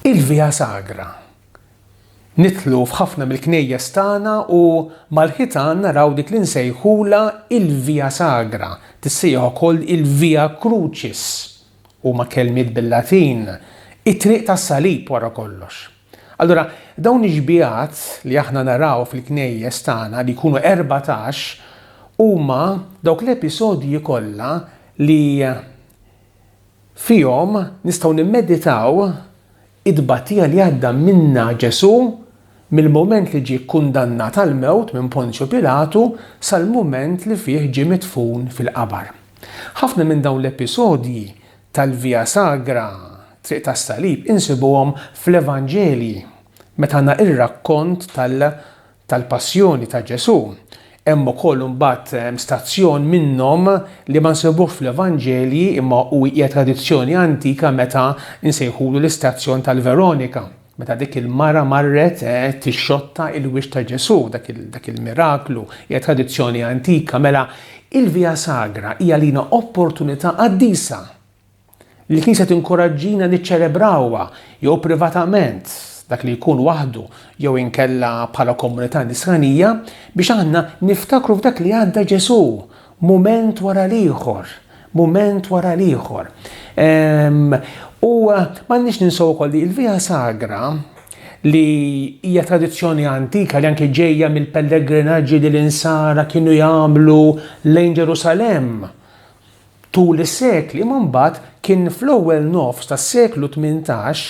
Il-Via Sagra. Nidħlu f'ħafna mill-knejjes tagħna u mal-ħitan naraw dik li nsejħulha il-Via Sagra, tissejjaħ ukoll il-Via Crucis, huma kelmiet bil-Latin, it-triq tas-salib wara kollox. Allura, dawn ix-xbiehat li aħna naraw fil-knejjes tagħna li jkunu 14 huma dawk l-episodji kollha li Fihom nistgħu nimmeditaw it-tbatija li għadda minnha Ġesù mill-mument li ġie kkundannat għall-mewt minn Ponzju Pilatu sal-mument li fih ġie midfun fil-qabar. Ħafna minn dawn l-episodji tal-Via Sagra, Triq tas-Salib, insibuhom fl-Evanġelji meta għandna r-rakkont tal-Passjoni ta' Ġesù, hemm ukoll imbagħad stazzjon minnhom li ma nsibuhx fl-Evanġelji imma hu hija tradizzjoni antika meta nsejħulu l-istazzjon tal-Veronika meta dik il-mara marret eh, tixxotta il-wiċċ ta' Ġesù, dak il-miraklu, hija tradizzjoni antika, mela il-Via Sagra hija lina opportunità qaddisa Il-Knisja tinkoraġġina niċċelebrawha jew privatament, dak li jkun waħdu jew inkella bħala komunità nisranija, biex aħna niftakru f'dak li għadda Ġesù, mument wara l-ieħor, mument wara l-ieħor. Ehm, u m'għandniex ninsaw ukoll li l-Via Sagra li hija tradizzjoni antika li anke ġejja mill-pellegrinaġġi li l-insara kienu jagħmlu lejn Ġerusalem tul is-sekli imma mbagħad kien fl-ewwel nofs tas-seklu tmintax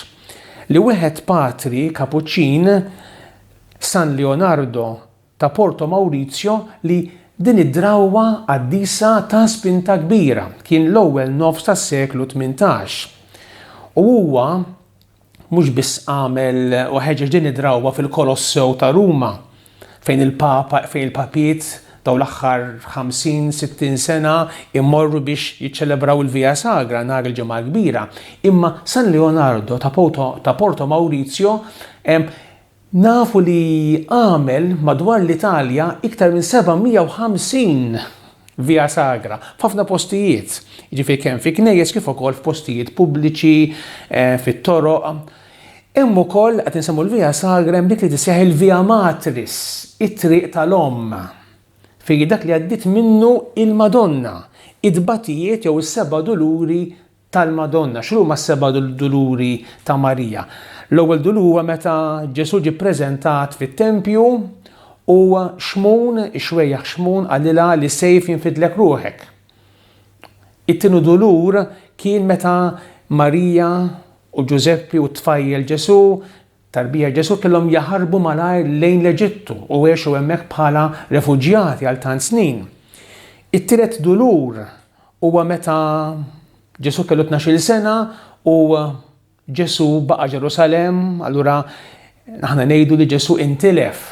li wieħed patri Kapuċċin, San Leonardo ta' Porto Maurizio li din id-drawwa qaddisa ta spinta kbira, kien l-ewwel nofs tas-seklu tmintax u huwa mhux biss għamel u ħeġeġ din id-drawwa fil-Kolossew ta' Ruma fejn il-Papa fejn il-Papiet dawn l-aħħar 50, 60 sena imorru biex jiċċelebraw il-Via Sagra nhar il-Ġimgħa l-Kbira, imma San Leonardo ta' Porto Maurizio Nafu li għamel madwar l-Italja iktar minn 750 Via Sagra f'ħafna postijiet, jiġifieri kemm fi knejjes kif ukoll f'postijiet pubbliċi, fit-toroq. Hemm ukoll, qed insemmu l-Via Sagra, hemm dik li tissejjaħ il-Via Matris, it-Triq tal-Omm, fejn dak li għaddiet minnu l-Madonna, it-tbatijiet jew is-Seba' Duluri tal-Madonna. X'inhuma s-seba' duluri ta' Marija? L-ewwel dulur huwa meta Ġesù ġie ppreżentat fit-tempju u Xmun, ix-xwejjaħ Xmun qalilha li sejf jinfidlek ruħek. It-tieni dulur kien meta Marija u Ġużeppi u t-tfajjel Ġesù Tarbija Ġesù kellhom jaħarbu malajr lejn l-Eġittu u għexu hemmhekk bħala refuġjati għal tant snin. It-tielet dulur huwa meta Ġesù kellu tnax-il sena u Ġesù baqa' Ġerusalemm, allura aħna ngħidu li Ġesù intilef.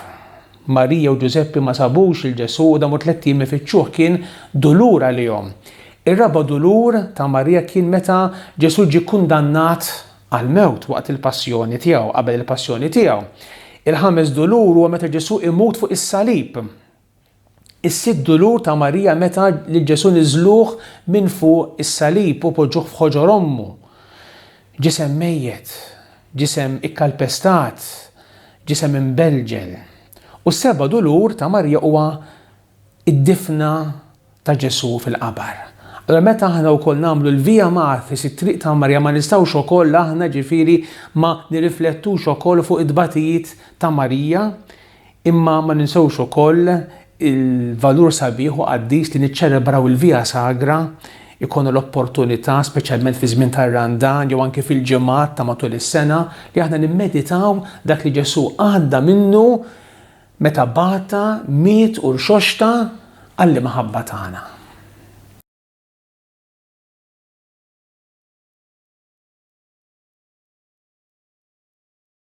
Marija u Ġużeppi ma sabux il Ġesù u damu tliet jiem ifittxuh kien dulur għalihom. Ir-raba' dulur ta' Marija kien meta Ġesù ġie kundannat għall-mewt waqt il-passjoni tiegħu, qabel il-passjoni tiegħu. Il-ħames dulur huwa meta Ġesù imut fuq is-salib. Is-sitt dulur ta' Marija meta lil Ġesù niżluh minn fuq is-salib u poġġuh f'ħoġor ommu. Ġisem mejjet, ġisem ikkalpestat, ġisem imbelġel. U s-seba' dulur ta' Marija huwa id-difna ta' Ġesù fil-qabar. Allura meta aħna wkoll nagħmlu l-Via Mathis, it-Triq ta' Marija, ma nistgħux ukoll aħna ġifieri ma nirriflettux ukoll fuq it-tbatijiet ta' Marija, imma ma ninsewx ukoll il-valur sabiħ u qaddis li niċċelebraw il-Via Sagra, ikonu l-opportunità, speċjalment fi żmien tar-Randan jew anke fil-ġimgħat ta' matul is-sena, li aħna nimmeditaw dak li Ġesù għadda minnu Meta bata, miet u rxoxta għall-imħabba tagħna.